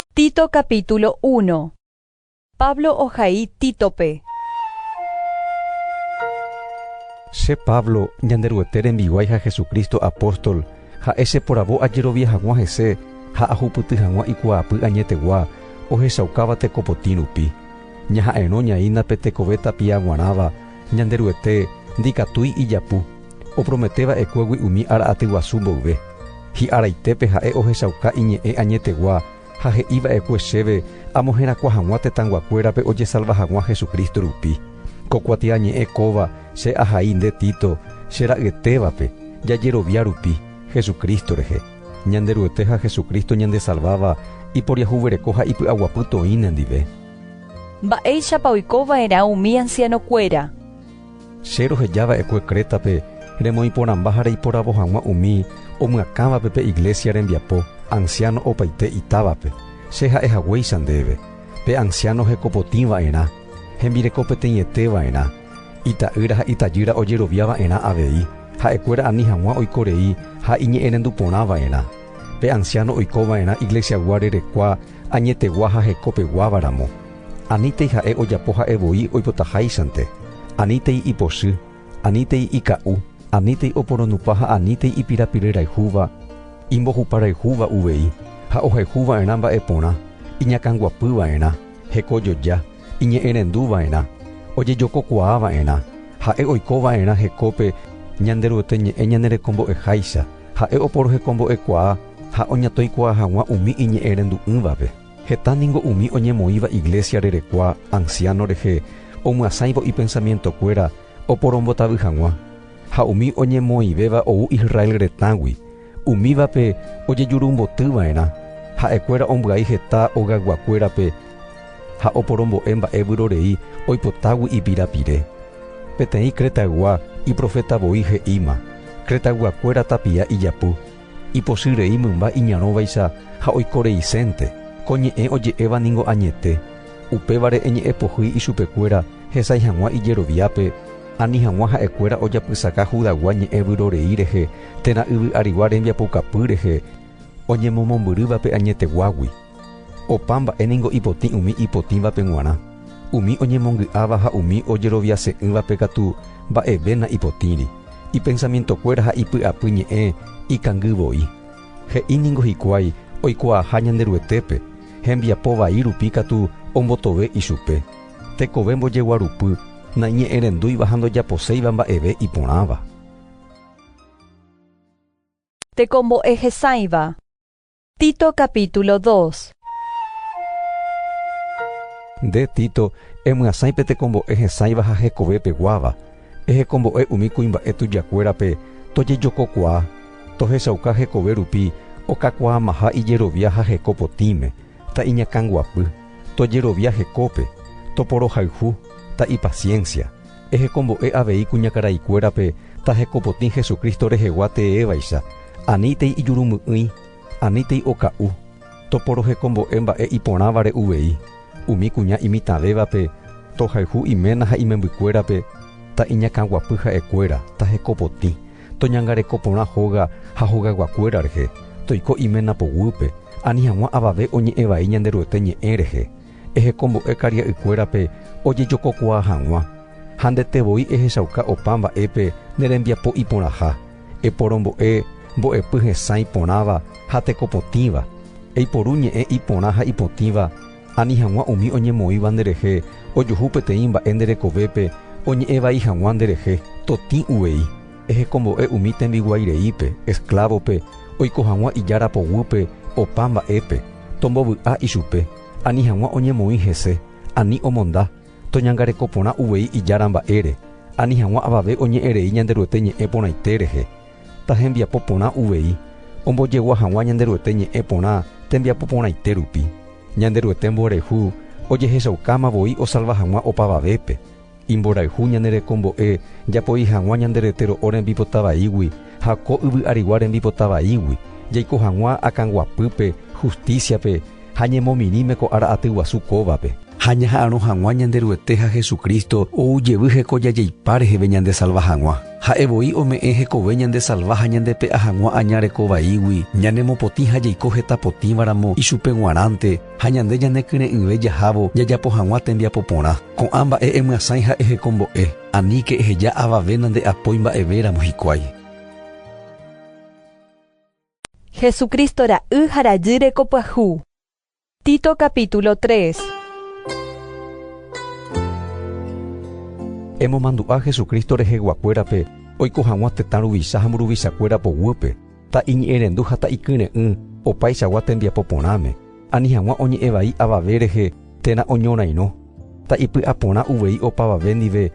Tito capítulo uno. Pablo ohai Títope. Che Pablo, Ñanderuete rembiguái ha Jesucristo apóstol, ha'e cheporavo ajerovia hag̃ua hese ha ahupyty hag̃ua ikuaapy añetegua ohechaukáva tekopotĩ rupi. Ñaha'erõ ñaína pe tekove tapia g̃uarãva Ñanderuete ndikatúi ijapu, opromete va'ekuégui umi ára aty guasu mboyve. Hi'araitépe Ha'e ohechauka Iñe'ẽ añetegua ha he'i va'ekue chéve amoherakuã hag̃ua tetãnguakuérape ojesalva hag̃ua Jesucristo rupi. Ko kuatiañe'ẽ kóva che ahai nde Tito, che ra'yetévape, jajerovia rupi Jesucristo rehe. Ñanderuete ha Jesucristo ñandesalváva iporiahuvereko ha ipy'aguapy toĩ nendive. Mba'éichapa oiko va'erã umi ansianokuéra? Che roheja va'ekue Crétape remoĩporãmba ha reiporavo hag̃ua umi omyakãvape pe iglésia rembiapo ansiáno opaite itávape. Che ha'e haguéicha ndéve, pe ansiáno hekopotĩ va'erã, hembireko peteĩete va'erã, Ita'ýra ha itajýra ojerovia va'erã avei, ha'ekuéra ani hag̃ua oiko rei ha iñe'ẽrendu porã va'erã. Pe ansiáno oiko va'erã iglesiagua rerekua añetegua ha heko peguáva ramo. Anítei ha'e ojapo ha'e voi oipotaháichante, anítei ipochy, anítei ika'u, anítei oporonupa ha anítei ipirapiryrayhúva, imbohuparayhúva uvei ha ohayhu va'erã mba'e porã, iñakãguapy va'erã. Hekojoja, iñe'ẽrendu va'erã, ojejokokuaa va'erã, ha'e oiko va'erã hekópe Ñanderuete ñe'ẽ ñanerekombo'eháicha, ha'e oporohekombo'ekuaa ha oñatoikuaa hag̃ua umi iñe'ẽrendu'ỹvape. Heta ningo umi oñemoĩva iglésia rerekuaa ansiáno rehe omyasãivo ipensamientokuéra oporombotavy hag̃ua, ha umi oñemoĩvéva ou Israel retãgui Umívape ojejurumboty va'erã, ha'ekuéra ombyai heta ogayguakuérape ha oporombo'e mba'e vyrorei oipotágui ipira pire. Peteĩ Cretaygua iproféta voi he'íma, Cretayguakuéra tapia ijapu, ipochy rei mymba iñarõvaicha ha oiko reisénte, ko ñe'ẽ oje'éva ningo añete. Upévare eñe'ẽ pohýi ichupekuéra hesãi hag̃ua ijeroviápe, ani hag̃ua ha'ekuéra ojapysaka Judagua ñe'ẽ vyrorei rehe térã yvy arigua rembiapoukapy rehe oñemomombyrývape añeteguágui. Opa mba'e ningo ipotĩ umi ipotĩvape g̃uarã, umi oñemongy'áva ha umi ojeroviase'ỹvape katu mba'eve na'ipotĩri, ipensamientokuéra ha ipy'apy ñe'ẽ ikangy voi. He'i ningo hikuái oikuaaha Ñanderuetépe, hembiapo vai rupi katu ombotove ichupe. Tekove mbojeguarupy, naiñe'ẽrendúiva ha ndojaposéiva mba'eve iporãva. Tekombo'e hesãiva. Tito capítulo dos. Nde, Tito, emyasãi pe tekombo'e hesãiva ha hekove peguáva, Ehekombo'e umi kuimba'e tujakuérape tojejokokuaa, tohechauka hekove rupi okakuaamaha ijerovia ha heko potĩme, ta iñakãguapy, tojerovia hekópe, toporohayhu, ta ipasiénsia. Ehekombo'e avei kuñakaraikuérape ta hekopotĩ Jesucristo rehegua teévaicha, anítei ijurumy'ỹi, anítei oka'u, Toporohekombo'e mba'e iporãvare uvei, umi kuña imitãvévape, tohayhu iména ha imembykuérape, ta iñakãguapy ha'ekuéra, ta hekopotĩ, toñangareko porã hóga ha hogayguakuéra rehe, toiko iména poguýpe, ani hag̃ua avave oñe'ẽ vai Ñanderuete ñe'ẽ rehe, ehekombo'e karia'ykuérape ojejokokuaa hag̃ua, ha ndete voi ehechauka opa mba'épe ne rembiapo iporãha. Eporombo'e mbo'epy hesã iporãva ha tekopotĩva, eiporu ñe'ẽ iporã ha ipotĩva, ani hag̃ua umi oñemoĩva nderehe ojuhu peteĩ mba'e nde rekovépe oñe'ẽ vai hag̃ua nderehe totĩ uvei. Ehekombo'e umi tembiguái reípe, esklávope, oiko hag̃ua ijára poguýpe opa mba'épe, tombovy'a ichupe, ani hag̃ua oñemoĩ hese, ani omonda, Toñangareko porã uvei Ijára mba'ére, ani hag̃ua avave oñe'ẽrei Ñanderuete ñe'ẽ porãite rehe. Tahembiapo porã uvei, ombojegua hag̃ua Ñanderuete ñe'ẽ porã tembiapo porãite rupi. Ñanderuete mborayhu ojehechaukáma voi osalva hag̃ua opavavépe. Imborayhu ñane rekombo'e japoi hag̃ua ñande rete ro'o rembipota vaígui ha ko yvy'arigua rembipota vaígui, jaiko hag̃ua akãguapýpe, hustísiape, Ha ñemomirĩme ko ára aty guasu kóvape. Ha ñaha'arõ hag̃ua Ñanderuete ha Jesucristo ou jevy hekoja jeipa reheve ñandesalva hag̃ua. Ha'e voi ome'ẽ hekove ñandesalva ha ñandepe'a hag̃ua aña reko vaígui, ñanemopotĩ ha jaiko heta potĩva ramo ichupe g̃uarãnte, ha ñande ñanekyre'ỹve jahávo jajapo hag̃ua tembiapo porã. Ko'ã mba'e emyasãi ha ehekombo'e, aníke eheja avave nande'apói mba'eve ramo hikuái. Jesucristo ra'y ha rajy reko pyahu. Tito capítulo 3. Emomandu'a Jesucristo reheguakuérape oiko hag̃ua tetã ruvicha ha mburuvichakuéra poguýpe, ta iñe'ẽrendu ha ta ikyre'ỹ opaichagua tembiapo porãme, ani hag̃ua oñe'ẽ vai avave rehe térã oñorairõ, ta ipy'aporã uvei opavave ndive,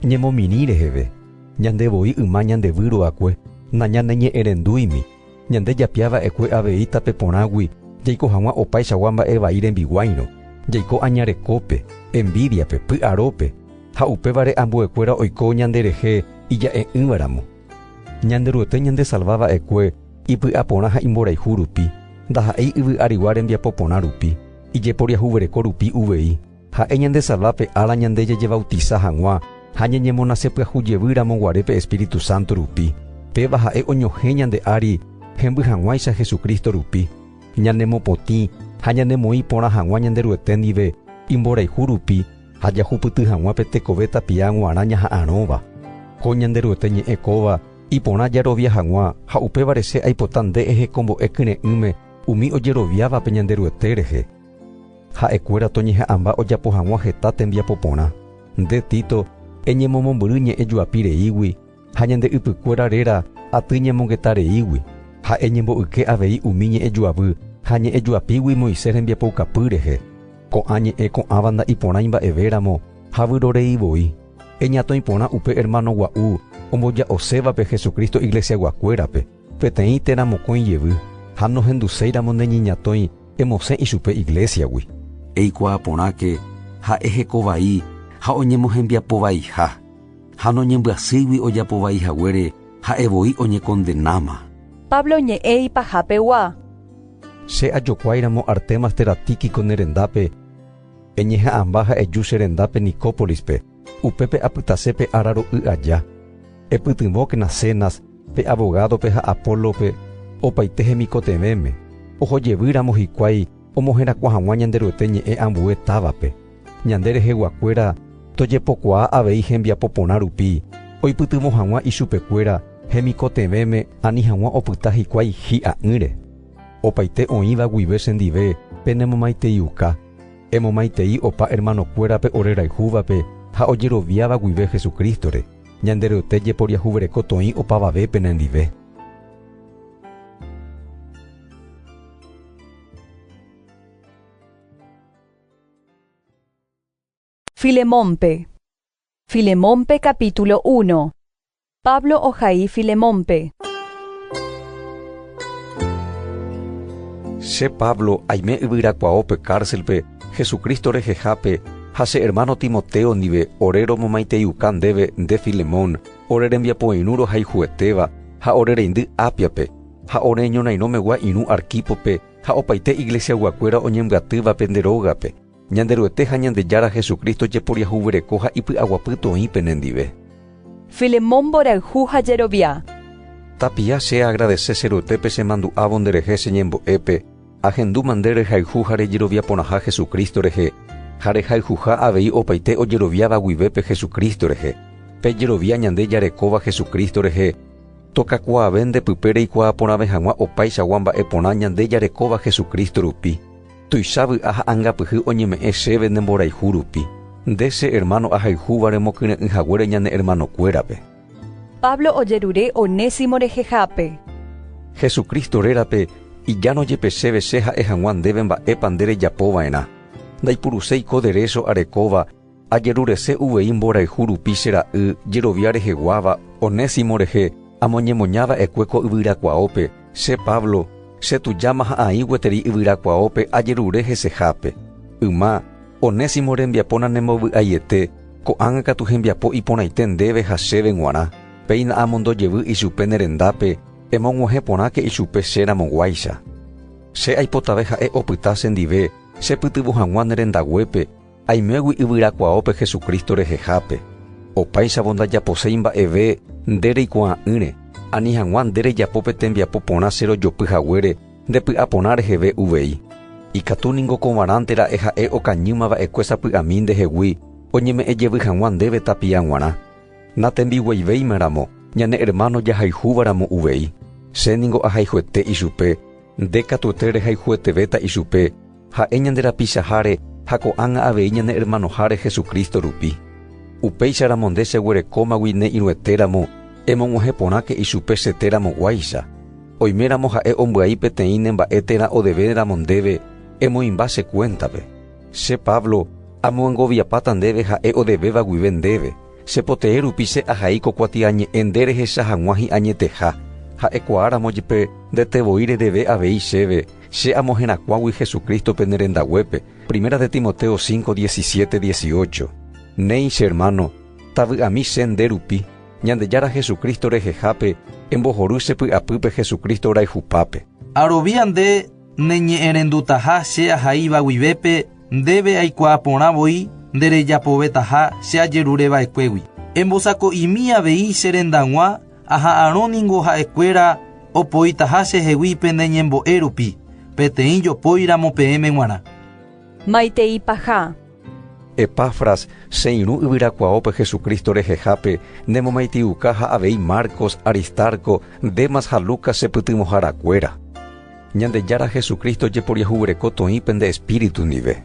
Ñemomirĩ reheve, ñande voi yma ñande Vyy Ruakue, nañaneñe'ẽrendúimi, ñande japia va'ekue avei tape porãgui jaiko hag̃ua opaichagua mba'e vai rembiguáirõ, jaiko aña rekópe, envídiape, py'arópe, ha upévare ambuekuéra oiko ñanderehe ija'e'ỹvaramo. Ñanderuete ñandesalva va'ekue ipy'aporã ha imborayhu rupi, ndaha'éi yvy'arigua rembiapo porã rupi, ijeporiahuvereko rupi uvei. Ha'e ñande salva pe ára ñande jajevautisa hag̃ua ha ñañemonase pyahu jevy ramo guare pe Espíritu Santo rupi. Péva ha'e oñohẽ ñande ári hemby hag̃uáicha Jesucristo rupi. Ñanemopotĩ ha ñanemoĩ porã hag̃ua Ñanderuete ndive imborayhu rupi ha jahupyty hag̃ua pe tekove tapia g̃uarã ñaha'arõva. Ko Ñanderuete ñe'ẽ kóva iporã jarovia hag̃ua ha upévare che aipota nde ehekombo'e kyre'ỹme umi ojeroviávape Ñanderuete rehe. Ha'ekuéra toñeha'ãmba ojapo hag̃ua heta tembiapo porã. Nde, Tito, eñemomombyry ñe'ẽ juapi reígui, ha ñande ypykuéra réra aty ñemongeta reígui, ha eñembo'yke avei umi ñe'ẽ juavy ha ñe'ẽ juapígui Moisés rembiapoukapy rehe. Ko'ã ñe'ẽ ko'ãva nda'iporãi mba'evéramo ha vyrorei voi. Eñatõi porã upe ermano gua'u omboja'osévape Jesucristo iglesiaguakuérape. Peteĩ térã mokõi jevy ha nohenduséiramo ne ñeñatõi emosẽ ichupe iglésiagui. Eikuaa porãke ha eheko vai ha oñemohembiapo vaiha, ha noñembyasýigui ojapo vai haguére ha'e voi oñekondenáma. Pablo ñe'ẽ ipahapegua. Che ajokuáiramo Artemas térã Tíquico ne rendápe, eñeha'ãmba ha eju che rendápe Nicópolispe. Upépe apytase pe ára ro'y aja. Epytyvõkena Zenas, pe avogádope ha Apólope opaite hemikotevẽme, oho jevýramo hikuái omoherakuã hag̃ua Ñanderuete ñe'ẽ ambue távape. Ñande reheguakuéra tojepokuaa avei hembiapo porã rupi oipytyvõ hag̃ua ichupekuéra hemikotevẽme ani hag̃ua opyta hikuái hi'a'ỹre. Opaite oĩva guive chendive penemomaiteiuka. Emomaitei opa ermanokuérape ore rayhúvape ha ojeroviáva guive Jesucristo-re, ñande ryote jeporiahuvereko toĩ opavave pene ndive. Filemónpe. Filemónpe capítulo uno. Pablo ohai Filemónpe. Che Pablo aime yvyrakuaó pe kárselpe Jesucristo rehehápe ha che hermano Timoteo ndive ore romomaiteiuka ndéve nde Filemón, ore rembiapoirũ rohayhuetéva ha ore reindy Ápiape, ha ore ñorairõmegua irũ Arquípope ha opaite iglesiaguakuéra oñembyatývape nde rógape. Ñanderuete ha Ñandejára Jesucristo jeporiahuvereko ha ipy'aguapy toĩ penendive. Filemón mborayhu ha jerovia. Tapia che agradese che ruetépe che mandu'ávo nde rehe che ñembo'épe, ahendúma nde rehayhu ha rejerovia porãha Jesucristo rehe, ha rehayhuha avei opaite ojeroviáva guivépe Jesucristo rehe. Pe jerovia ñande jarekóva Jesucristo rehe, tokakuaave nde pype reikuaa porãve hag̃ua opaichagua mba'e porã ñande jarekóva Jesucristo rupi. Tuicha vy'a ha angapyhy oñeme'ẽ chéve ne mborayhu rupi, nde che ermáno ahayhúva remokyre'ỹ haguére ñane ermanokuérape. Pablo ojerure Onésimo rehehápe. Jesucristo rérape, ijáno jepe chéve che ha'e hag̃ua ndéve mba'épa nde rejapo va'erã. Ndaipuruséi ko derécho arekóva Ajerurese uvei mborayhu rupi che ra'y jerovia reheguáva Onésimo rehe amoñemoña va'ekue ko yvyrakuaópe, che Pablo, che tujáma ha aĩ gueteri yvyrakuaópe ajerure hesehápe. Yma, Onésimo rembiapo nanembovy'aiete, ko'ág̃a katu hembiapo iporãite ndéve ha chéve g̃uarã, péina amondo jevy ichupe ne rendápe, emog̃uahẽ porãke ichupe che ramo guáicha. Che aipotave ha'e opyta che ndive chepytyvõ hag̃ua ne rendaguépe, Aimégui yvyrakuaópe Jesucristo rehehápe, opáichavo ndajaposéi mba'eve nde reikuaa'ỹre, ani hag̃ua nde rejapo pe tembiapo porã che rojopy haguére nde py'a porã reheve uvei. Ikatu ningo kovarãnte ra'e ha'e okañýma va'ekue sapy'ami ndehegui oñeme'ẽ jevy hag̃ua ndéve tapia g̃uarã. Natembiguaivéima ramo ñane ermáno jahayhúva ramo uvei, che ningo ahayhuete ichupe, nde katuete rehayhuetevéta ichupe, Ha'e ñande rapichaháre ha ko'ág̃a avei ñane ermanoháre Jesucristo rupi. Upéicharamo nde cheguerekómagui ne irũetéramo, emog̃uahẽ porãke ichupe che téramo guáicha. Oiméramo ha'e ombyai peteĩ ne mba'e térã odevéneramo ndéve, emoĩmba che kuéntape. Che Pablo, amyangoviapáta ndéve ha'e odevéva guive ndéve, che potee rupi che ahai ko kuatiañe'ẽ nde rehecha hag̃ua hi'añeteha, ha'ekuaáramo jepe ndete voi redeve avei chéve, Che amo herakuãgui Jesucristo-pe ne rendaguépe, Primera de Timoteo cinco, diecisiete, dieciocho. Néi, che hermano, tavy'ami che nde rupi, Ñandejára Jesucristo rehehápe, embohory che py'apýpe Jesucristo rayhupápe. Arovia nde ne ñe'ẽrendutaha che ahaíva guivépe ndéve aikuaa porã voi nde rejapovetaha che ajerure va'ekuégui. Embosako'imi avei che rendag̃ua Aha'arõ ningo ha'e kuéra opoitaha che hegui pende ñembo'e rupi, peteĩ jopói ramo peẽme g̃uarã. Maitei paha. Epafras, che irũ yvyrakuaópe Jesucristo rehehápe, ne momaiteiuka ha avei Marcos, Aristarco, Demas ha Lucas che pytyvõhára kuéra. Ñandejára Jesucristo jeporiahuvereko toĩ pende Espíritu ndive.